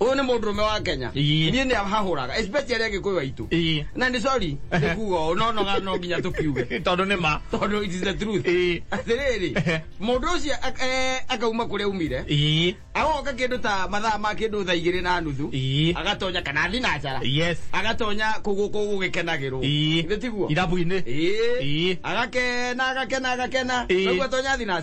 uyu ni mundu rume wa kenya Ii. nie ni hahuraga especially agikuyu waitu Ii. na ni sorry ni kuga ũũ, no no no nginya tukiuge tondå nä ma tondu it is the truth Ii. atiriri mundu ucio ak- eh, akauma kuria umire Ii. agoka kindu ta mathaa ma kindu thaa igiri na nuthu Ii. agatonya kana athi na njara yes agatonya kuguku gugikenagirwo Ii. tiguo irabu-inä Ii. Ii. agakena agakena agakena Ii. noguo atonya athi na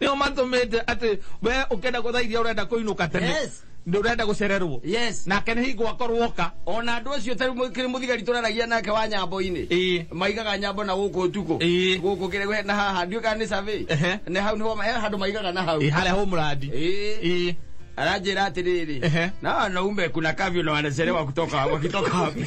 nio matũmĩte atĩ we ũkenda gũthaithia ũrenda kũinũka tene Yes. nĩ ũrenda gũcererwo Yes. nake nĩ hingo akorwo oka ona andå å cio tarä kä muthigari tå raragia nake wa nyambo-inä Ĩĩ. maigaga nyambo na gå kå tukå Ĩĩ. gå kå kä na haha ndiå kana nä survey. Ehe. na hau nä he handå maigaga na hau Ĩ, harĩa hå mũrandi Ĩĩ. Ĩ. aranjä ra atä rä Ehe. rä na wanaume kuna kavyo na wanacerewa kutoka wakitoka wapi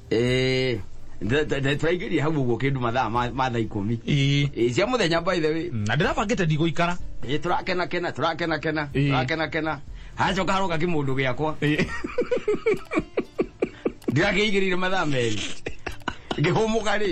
Eh, nda- nda- nda- tũraingĩria hau ũguo kĩndũ mathaa ma ma thaa ikũmi Ĩĩ. Eh, cia mũthenya by the way na ndĩrabangĩte ndigũikara Eh, tũrakena kena tũrakena kena Ĩĩ. tũrakena kena hacoka haroka kĩmũndũ gĩakwa Ĩĩ. ndĩrakĩigĩrĩire mathaa merĩ ngĩhũmũka rĩ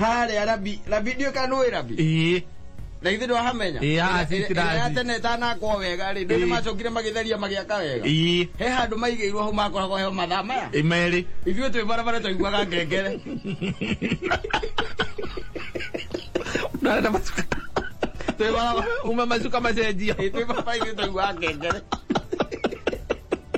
harĩa rabi rabi ndiũĩ kana nũĩ rabi ĩĩ na ithe ndwahamenya Ĩĩ, haha si tirathi. Ĩrĩa ya tene ĩtanakwo wega rĩ ndũĩ Ĩĩ. nĩmacokire magĩtheria magĩaka wega ĩĩ he handũ maigĩirwo hau makoragwo heo mathaa maya imerĩ ithuĩ twĩ barabara twaiguaga ngengere ndarenda macuka twĩ barabara uma macuka macenjio Ĩĩ, twĩ barabara ithuĩ twaiguaga ngengere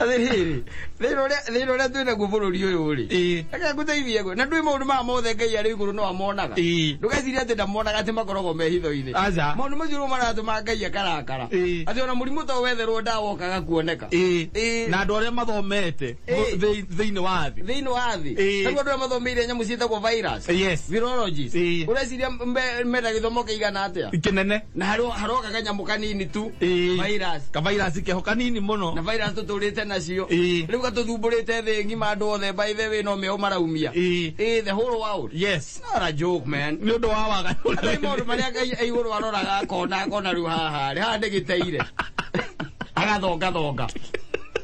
athiriri thina uria thina uria twina guo bururi uyu ri Ĩĩ. reke nguteithie guo na ndui maundu maya mothe ngai ari iguru no amonaga Ĩĩ. ndugeciria ati ndamonaga ati makoragwo me hitho-ini Aca. maundu macio nimo maratuma ngai akarakara Ĩĩ. ati ona murimu to wetherwo ndawa ũkaga kuoneka Ĩĩ. Ĩĩ. na andå arä a mathomete Ĩĩ. Thĩ- thĩinĩ wa thĩ thĩinĩ wa thĩ Ĩĩ. tarĩu andũ arĩa mathomeire nyamũ ciĩtagwo virus Yes. virologist Ĩĩ. ũreciria mbe- mena gĩthomo kĩigana atĩa kĩnene na harĩ- haroka kanyamũ kanini tu Ĩĩ. virus kavairasi keho kanini na mũno virus tũtũrĩte nacio Ĩĩ. rĩu gatũthumbũrĩte thĩ ng'ima andũ othe by the way no meũ maraumia Ĩĩ. Ĩĩ, the whole world yes not a joke man nĩ ũndũ wa waga Nĩ maũndũ marĩa ngai e igũrũ aroraga akona akona rĩu haha rĩ haha ndĩgĩteire agathongathonga